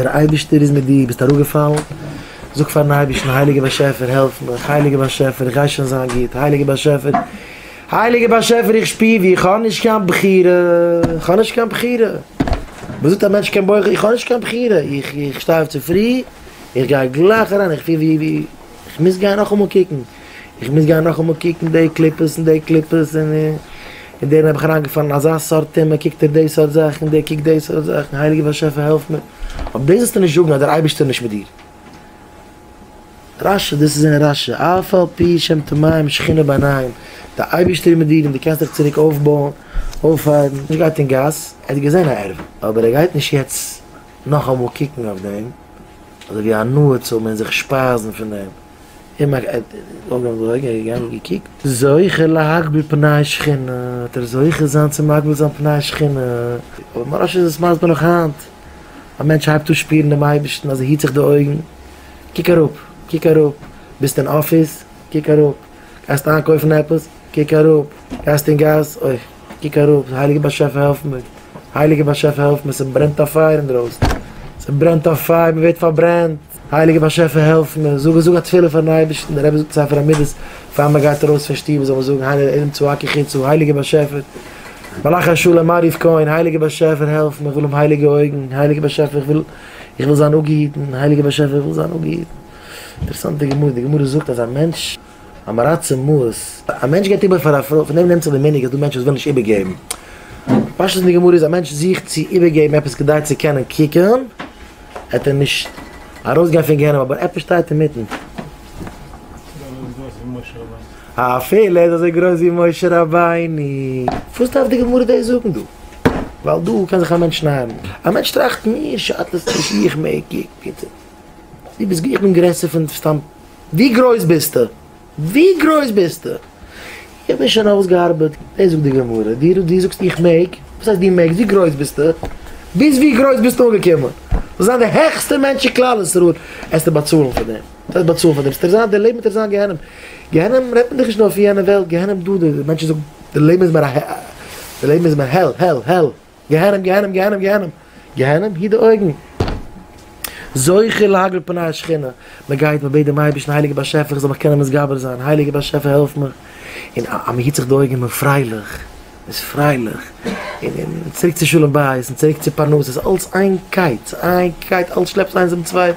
דער אייבערשטער איז מיט דיר, ביסט אראפגעפאלן? זאג פארן אייבערשטן, הייליגער באשעפער העלף מיך, הייליגער באשעפער איך גיי שוין זיין גוט, הייליגער באשעפער, הייליגער באשעפער איך שפיר ווי איך האב נישט קיין בחירה, איך האב נישט קיין בחירה, וואס זאגט א מענטש קען בוחר, איך האב נישט קיין בחירה, איך איך שטיי אויף צופרי, איך גיי גלייך אריין, איך פיר ווי איך מוז גיין נאכאמאל קוקן. איך מוז גיין נאכאמאל קוקן די קליפות און די קליפות, און און דערין האב איך אריינגעפאלן אזא סארט טעמע, קוקט ער די סארט זאכן און דער קוקט די סארט זאכן, הייליגער באשעפער העלף מיר, אויף דאס זאלסטו נישט זאגן אז דער אייבערשטער איז נישט מיט דיר. רשע, דאס איז זעהן רשע, אף על פי שהם טמאים שכינה בעיניהם, דער אייבערשטער איז מיט דיר און דו קענסט דיך צוריק אויפבויען, אויפהייבן, נישט גייט אין גאס, ער האט געזעהן א ערוה, אבער ער גייט נישט יעצט נאכאמאל קוקן אויף דעם, אזוי ווי הנאה צו האבן און זיך שפייזן פון דעם. אים א אויג אויף די אויגן, ער איז געגאנגען און געקוקט. זוכה להגביל פני שכינה, וועט ער זוכה זיין צו מגביל זיין פני שכינה. אבער מוהרא ש איז עס מסביר נאך היינט, א מענטש הייבט אן שפירן דעם אייבערשטן אז ער היט זיך די אויגן, קוק אראפ, קוק אראפ, ביסט אין אפיס, קוק אראפ, גייסט איינקויפן עפעס, קוק אראפ, גייסט אין גאס, אוי, קוק אראפ, הייליגער באשעפער העלף מיר, הייליגער באשעפער העלף מיר, ס'ברענט א פייער אינדרויסן, ס'ברענט א פייער, מ'ווערט פארברענט. הייליגער באשעפער העלף מיר, זאג זאג א תפילה פארן אייבערשטן, דער רבי זאגט אין ספר המידות, פאר מען גייט ארויס פון שטוב זאל מען זאגן הנה עדים צועקי חוצה, הייליגער באשעפער, מלאך השלום מעריב כהן, הייליגער באשעפער העלף מיר, איך וויל האבן הייליגע אויגן, הייליגער באשעפער איך וויל איך וויל זיין אפגעהיטן, הייליגער באשעפער איך וויל זיין אפגעהיטן. אינטערעסאנט די גמרא, די גמרא זאגט אז א מענטש. א מרת צמאות, א מענטש געבט איבער פאר א פרוי, פון דעם נעמט זיך די מנהג אז דא מענטשן וואס ווילן נישט איבערגעבן. פשט אין די גמרא איז א מענטש זוכט צו איבערגעבן עפעס כדי צו קענען קוקן עט ער נישט ארויסגיין פון גיהנום אבער עפעס שטייט אינמיטן. א אפעלע איז אזוי גרויס ווי משה רבינו. פארוואס דארף די גמרא דאס זאגן דא? ווייל דא קען זיך א מענטש שניידן. א מענטש טראכט מיר שאדט עס נישט איך מעג קוקן. דו ביסט גרעסער פון סתם. ווי גרויס ביסטו? ווי גרויס ביסטו? איך בין שוין אויסגעארבעט, דאס זאגט די גמרא, דו דו זאגסט איך מעג, וואס הייסט דו מעגסט? ווי גרויס ביסטו? ביז ווי גרויס ביסטו אנגעקומען? זאלסט זיין די העכסטע מענטש אין כלל ישראל, עסטו באצאלן פאר דעם, וואס הייסט באצאלן פאר דעם? ס'טאר זיין, דער לעבן טאר זיין גיהנום, גיהנום רעדט מען דיך נישט נאר פון יענע וועלט, גיהנום דא, די מענטשן זאגן דער לעבן איז מיר א העל, דער לעבן איז מיר העל, העל, העל. גיהנום גיהנום גיהנום גיהנום גיהנום היט די אויגן זוכה להגר פני השכינה מען גייט מען בעט דעם אייבערשטן הייליגער באשעפער איך זאל מיך קענען מתגבר זיין הייליגער באשעפער העלף מיך און אז מען היט זיך די אויגן איז מען פרייליך מען איז פרייליך און און צוריק צו שלום בית און צוריק צו פרנסה ס'איז אלץ איין קייט איין קייט אלץ שלעפט איינס דעם צווייטן.